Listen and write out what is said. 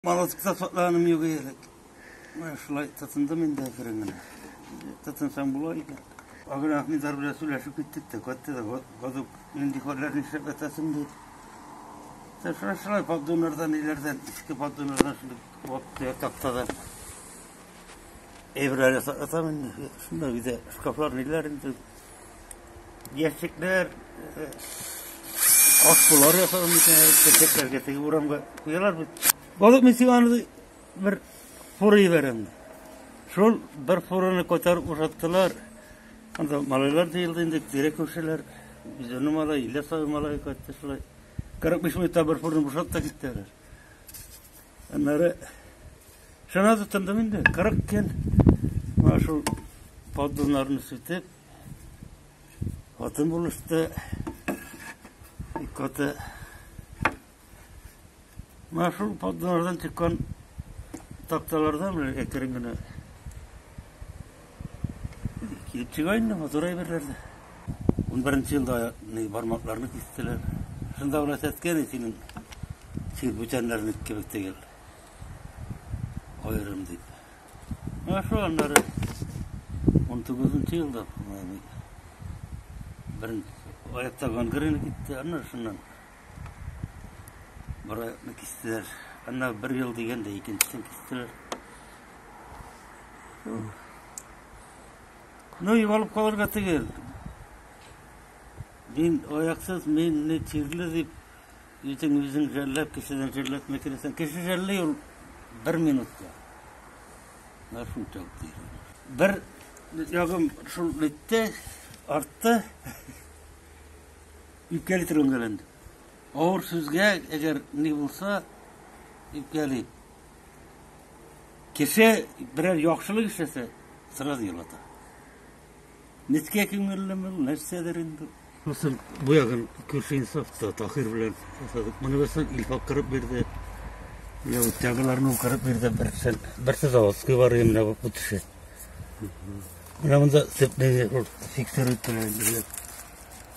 Балык тотлаганым юк элек. Менә шулай тотындым инде әкрен генә. Тотынсаң була икән. Агыр Ахмедар белән сөйләшеп киттек тә, кайтты да, гадук, нинди хәлләр нишләп ятасың диде. Та шулай шулай поддоннардан, ниләрдән, иске поддоннардан шундый вакытта ятакта да. Эбрәле сатам инде. Шунда биде шкафлар ниләр инде. Ящикләр, э, ашпулар ясалган микән, чәчәкләргә теге урамга куялар бит. Балык мин сиңа аны бер фура җибәрәм. Шул бер фураны күтәреп ушаттылар. Анда малайлар җыелды инде, тирә күршеләр. Үзенең малай, Ильяс абый малай кайтты шулай. 45 минутта бер фураны бушатып та киттеләр. Аннары шуна тотындым инде, 40 көн менә шул поддоннарны сүтеп, хатын булышты, коты. Менә шул поддоннардан чыккан такталардан әкрен генә Китчегә инде матур әйберләр дә. Унберенче елда бармакларны кистеләр. Шунда гына сәткән синең син бүтәннәрне кебек түгел. Аерым дип. Менә шул аннары 19 елда беренче аяктагы гангрена китте, аннары шуннан Бараятны кистеләр. Әнә бер ел дигәндә икенчесен кистеләр. Ну, югалып калырга түгел. Мин аяксыз, мин не тирле дип, үзең үзең жәлләп, кешедән жәлләтмә керәсең. Кеше жәлли ул бер минутта. Менә шул тәү Бер ягым шул итте, артты. Үпкәли торган гәләнд. Авыр сүзгә әгәр ни булса, үпкәли. Кеше берәр яхшылык эшләсә, сразу елата. Нечкә күңеллеме, нәрсәдер инде. Хәсән бу ягын күрше инсафта Таһир белән ясадык. Моны берсен Илфак кырып бирде. Я вот тәгеләрне кырып бирде берсен. Берсе заводской бар иде менә бу төше. Менә монда сепнеге фиксер иттеләр.